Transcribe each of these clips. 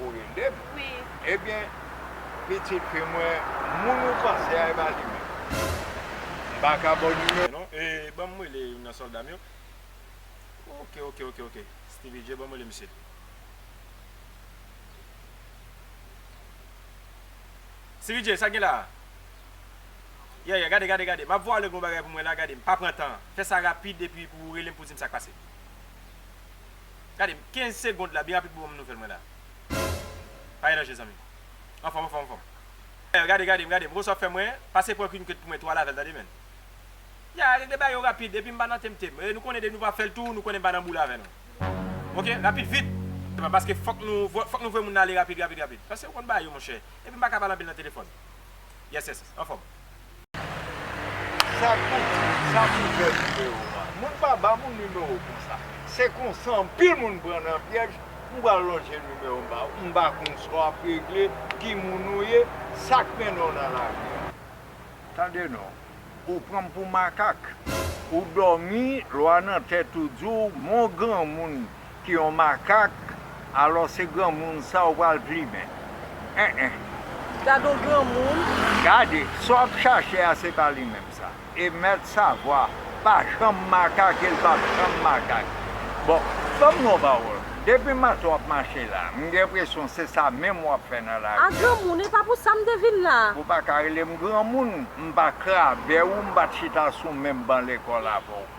Ou rele m? Wi. Ebyen, pitit fi mwen, moun ou panse a e pa li menm. M pa ka ba w nimewo l non. E ban m rele youn nan sòlda m yo. Oke, oke, oke, oke. Steevy J, ban m rele misye. Steevy J, sa k gen la a? Yè, yè, gade, gade, gade. M ap vwale w gen yon bagay pou mwen la, gade, m pa pran tan. Fè sa rapid epi pou ou rele m pou w di m sa k pase. Gade m 15 segond la byen rapid pou banm nouvel mwen la. Pa gen danje zanmi. Anfom anfom anfom. Pè gade gade m gade m Rosa ap fè mwen pase pran Queen Kate pou mwen 3 lavel tande men. Ya regle bagay yo rapid epi m pa nan temte m. Nou konnen depi nou pa fèl tou nou konnen m pa nan boule avè nou. Ok rapid vit. Epa paske fok nou fok nou voye moun nan ale rapid rapid rapid. Pase ou konn bagay yo monchè. Epi m pa ka pale anpil nan telefon. Yes yes anfom. Sa kou di, sa kou vè nimewo a. Moun pa ba moun nimewo konsa. Se konsa anpil moun pran nan pyèj, m pral lonje nimewo m ba ou. M pa konn sa w ap regle, ki moun ou ye, sa k mennen w nan lari a. Tande non, ou pran m pou makak. Ou dòmi, lwa nan tèt ou di w, mon granmoun, Ki yon makak alò se granmoun sa ou pral plimen enh. Gadon granmoun. Gade, sa wap chache a se pa li menm sa. E mèt savwa pa janm makak e l pap janm makak. Bon, banm yon pawòl, depi maten wap mache la, m gen enpresyon se sa menm wap fè nan lavi a. A granmoun, e pa pou sa m te vin la. Ou pa ka rele m granmoun, m pa krabè ou, m pat chita sou menm ban lekòl avè w.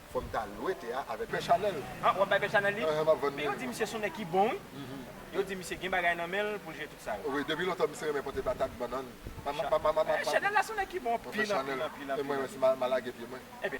Fòm ta lwe te a avèk pè chanèl. Han wap bay pè chanèl li? Map vann li. Yo di misye son nèg ki bon wi. Yo di misye gen bagay nan menl poul jwe tout sal. Wi depi lontan misye renmen pote patat, bannann. Pè chanèl la son nèg ki bon anpil anpil anpil. E mwen menm si ma lage pye mwen.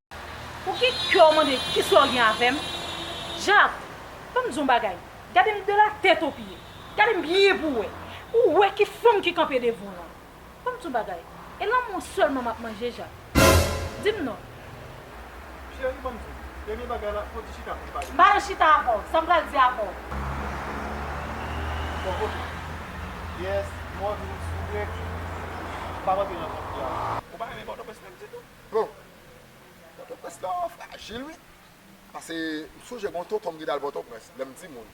Pou ki kè w mande kisa w gen avè m? Jaf, Ban m di w yon bagay, gade m de la tèt o pye. Gade m byen pou w wè. Ou wè ki fanm ki kanpe devan w lan. Ban m di w yon bagay, e lanmou w sèlman m ap manje, Jaf? Di m non. Cheri, ban m di w, dènye bagay la, fò w di chita pou n pale. M pa nan chita avè w. Sa m pral di avè w. Bon, oke. Yes, mòd ou, souple, pa rantre nan konfli a. Ou pa renmen Pòtoprens menm ditou? Bon, Pòtoprens lan frajil wi. Pase m sonje gen yon tonton m ki t al Pòtoprens lè m timoun.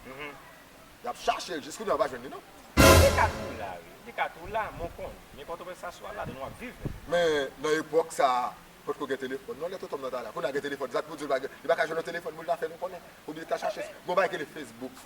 Y ap chache l, jiskounye a ou pa jwenn li non. Li ka toujou la wi. Li ka toujou la, men w konn. Men Pòtoprens sa sou al ladan l w ap viv. Men nan epòk sa a, potko gen telefòn non lè tonton m nan t al la. Kounye a gen telefòn, zak pou di l pa gen, li pa ka jwenn yon telefòn pou l ta fè nou konnen oubyen ta chache. Gen yon bagay ki rele fesbouk.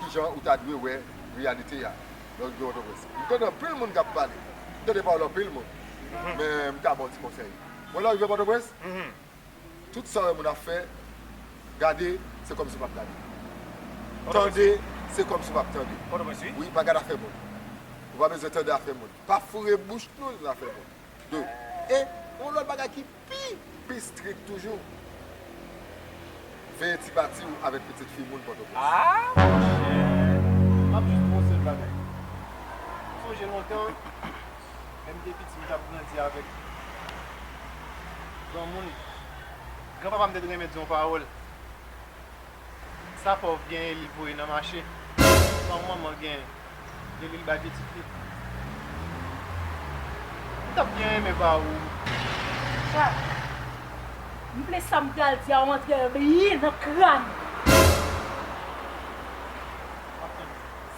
Ki jan ou ta dwe wè reyalite a lè w gen yon doblès? M tande anpil moun k ap pale, m tande pawòl anpil moun, men m ka ba w ti konsèy. Wè lè w rive Pòtoprens, tout sa w wè moun ap fè, gade se kòmsi w pa p gade. Tande se kòmsi w pa p tande. Wi, pa gade afè moun. Ou pa bezwen tande afè moun. Pa foure bouch nou nan afè moun. 2, e yon lòt bagay ki Pi pi strik toujou. Veye ti pati ou avek pitit fi moun potoprens. Aah monchè map jis di yon sel bagay m sonje lontan lèm te piti m tap grandi avek granmoun gran papam te renmen di yon pawol. Sa pòv genyen li voye nan mache sa yon manman genyen epi li bay pitit li m tap byen renmen ba ou chak m vle sam pral di a ou antre l byen nan kran m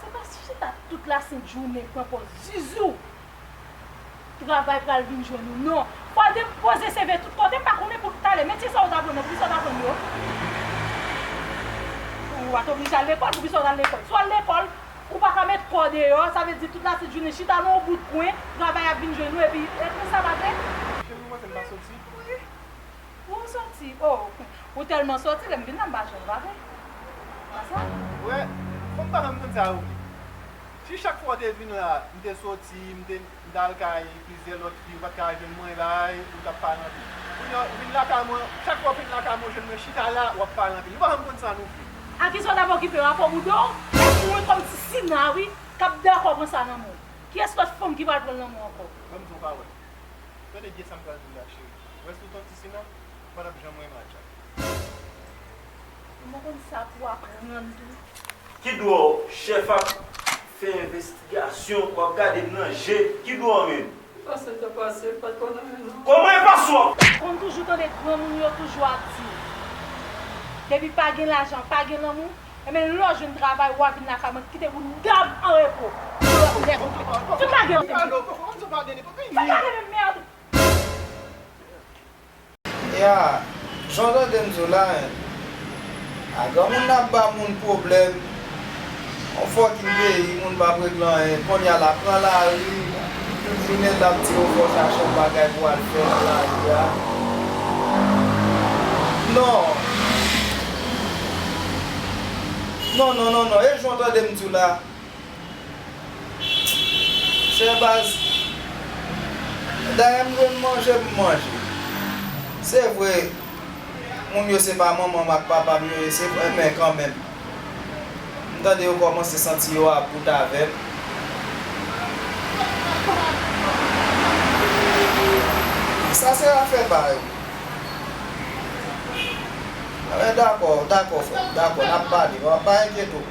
se pa chita tout la sent jounen pran pòz zuzu Travay pral vin jwenn ou non. Fwade m poze CV tout kote m pa konnen pou talè metye sa ou t aprann nan poukisa ou t aprann yo? Ou pa t oblije al lekòl poukisa ou t al lekòl? Si w al lekòl ou pa ka met kò deyò sa vle di tout latit jounen chita nan yon bout kwen travay ap vin jwenn ou epi epi sa pa vre? Cheri ou panse m pa soti? Wi ou soti oo ou tèlman soti lè m vin la m pa jwenn ou pa vre? Ou pa sa? Ou wè fòk m pa fè m konn sa yo vle. Si chak fwa w te vin la, m te soti, m te al kay plizyè lòt fi, ou pa t ka jwenn mwen la, ou t ap pale anpil. Kounye a, ou vin lakay mwen, chak fwa ou vin lakay mwen, ou jwenn mwen chita la, w ap pale anpil. Nou pa janm konn sa nou vle. A ki sa w t ap okipe w? A kòb ou do w? E pou mwen kòm ti Sina wi, k ap dakò pran sa nan men w. Kiyès lòt fanm ki pral pran l nan men w ankò? Ban m di w yon pawòl. Tande byen sa m pral di w la, cheri. Ou wè si w t yon ti Sina, ou pa t ap janm renmen Atcha. Ou pa konn sa pou aprann tou. Ki dwò chèf ap fè envestigasyon wap gadem nan je ki dwò menm. Pase ta pase pat konn anyen non. Koman e pa sou a. Konn toujou tande granmoun yo toujou ap di depi pa gen lajan pa gen lanmou ebyen lè w jwenn travay wa vin lakay mwen kite boudam an repo pou lòt nèg fout pa gen fout pa gen merde. Knya jan w tande m di w la hein ah granmoun nan ap ba moun pwoblèm yon fòkin peyi moun pap regle anyen konnya lap pran lari fine lap di yo fòk chache yon bagay pou al fè nan lari a non non non non non e jan w tande m di w la. Shehbaz, Dayè m jwenn manje m manje. Se vre moun yo se pa manman m ak papa m yo ye se vre men kanmenm m tande yo kòmanse santi yo about avè m. Sa se afè pa yo. Dakò, dakò frè m, dakò n ap pale pa enkyete w.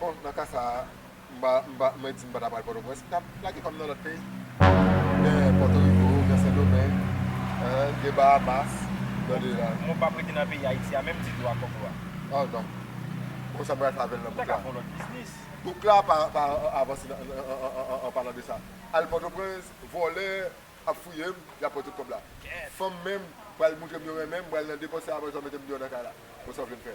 Bon, nan ka sa a, m pa, m pa, mwen di m pa ta pral Pòtoprens, m ta plake kò m nan lòt peyi. Gen Pòtoriko, gen Sendomeng, gen Bahamas, tande la. Mwen pa p rete nan peyi Ayiti a menm ditou ak kòb ou a. Oh non. Bon, sa m pral fè avè l nan bouk la? Ou ta ka fè yon lòt biznis. Bouk la pa, pa avanse nan, an palan de sa. Al Pòtoprens, vòlè ap fouye m, y ap pran tout kòb la. Fanm menm pral montre m yo renmen m, m pral nan depòs sa a apre sa yo mete m deyò nan kay la. Bon, sa w vle m fè?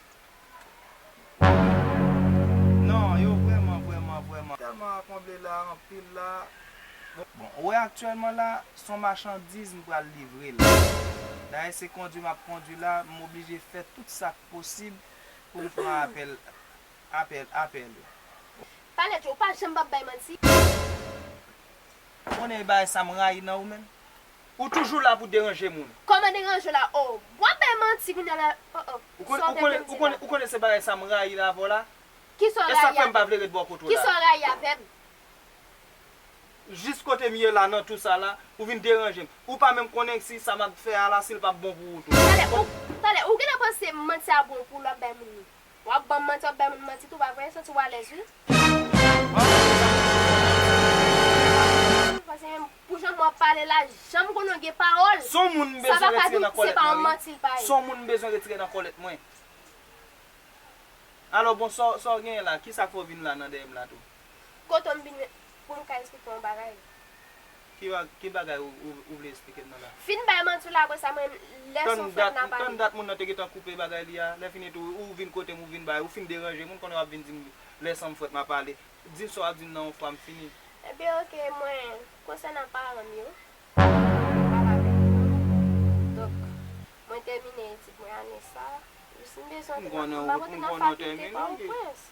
Non yo vrèman vrèman vrèman tèlman ankonble la anpil la bon ou wè aktyèlman la son machandiz m pral livre la dayè se kondwi map kondwi la m oblije fè tout sak posib poum pran apèl apèl apèl yo. Palèt yo ou pa janm pap bay manti. Ou konnen e bagay sa m rayi nan ou menm. Ou toujou la pou deranje moun. Koman deranje la oh. Wap bay manti kounya la oh oh. Sa w te vle m di la. Ou konnen se bagay sa m rayi la avè w la. Kisa w rayi avè m. E sak fè m pa vle ret bò kot ou la. Kisa w rayi avè m. Jis kote m ye la nan tou sa la, ou vin deranje m. Ou pa menm konnen si sa map fè a la si l pap bon pou ou tou. Talè ou gentan panse manti a bon pou ou lap bay moun ni. Wap banm manti wap bay moun manti tou pa vre santi w alèz wi. Pase menm pou jan mwen ap pale la janm konnen w gen pawòl sa pa ka di se pa yon manti l bay. Son moun m bezwen retire nan kòlèt mwen. Alò bon sa w genyen la kisa k fè w vin la nan dèyè m la tou. Kote w m vin. pou m ka esplike w yon bagay. Ki bagay ou vle esplike m nan la? Fin bay manti w la apre sa mwen lè son fèt n a pale. Tann dat moun nan te gentan koupe bagay li a, lè fini tou ou vin kote m ou vin bay, ou fin deranje m, moun konnen w ap vin di m lè san m fwèt m a pale. Di m sa w ap di m nan yon fwa m fini. Ebyen ok mwen, konsènan paran m yo, mwen pale avèk yo, donk mwen tèmine etid mwen ane sa, jis m bezwen, m pa pote nan fakilte pa o pwens.